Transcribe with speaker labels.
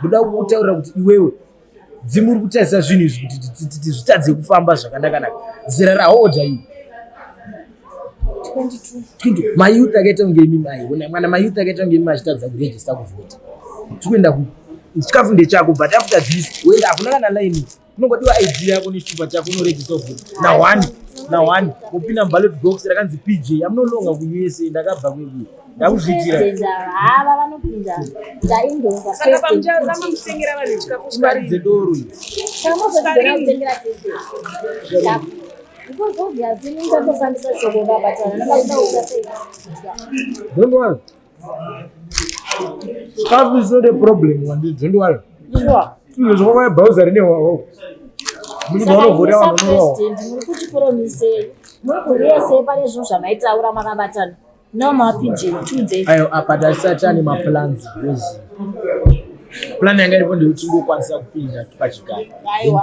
Speaker 1: ndoda kutaura kuti iwewe dzimu uri kutarisa zvinhu izvi kuti zvitadze kufamba zvakanakanaka zera rahodha iyi
Speaker 2: mayouth akaita kunge
Speaker 1: imi maiona mwana mayouth akaita kunge imi machitadza kurejista kuvhota tikuenda ku chikafu ndechako but after this wenda hakuna kana laini unongodiwa id yako nechitupa chako unoregisa kuti na one na one wopinda muballot box rakanzi pj amunononga kuusa ndakabva kweku ndakuzviitira
Speaker 2: imari dzedoro
Speaker 1: don't worry Stuff is not a problem, don't worry. Sure. Zvokwa bhauza rine wawo. Mimi naona vore wa nono wawo. Ndiri kuti promise.
Speaker 3: Muri yese pane zvinhu zvamaitaura makabatana. No mapinje tuze. Ayo apa tasatani
Speaker 1: ma plans because plan yanga iripo ndikuti ndokwanisa
Speaker 3: kupinda
Speaker 1: pachigaro. Aiwa.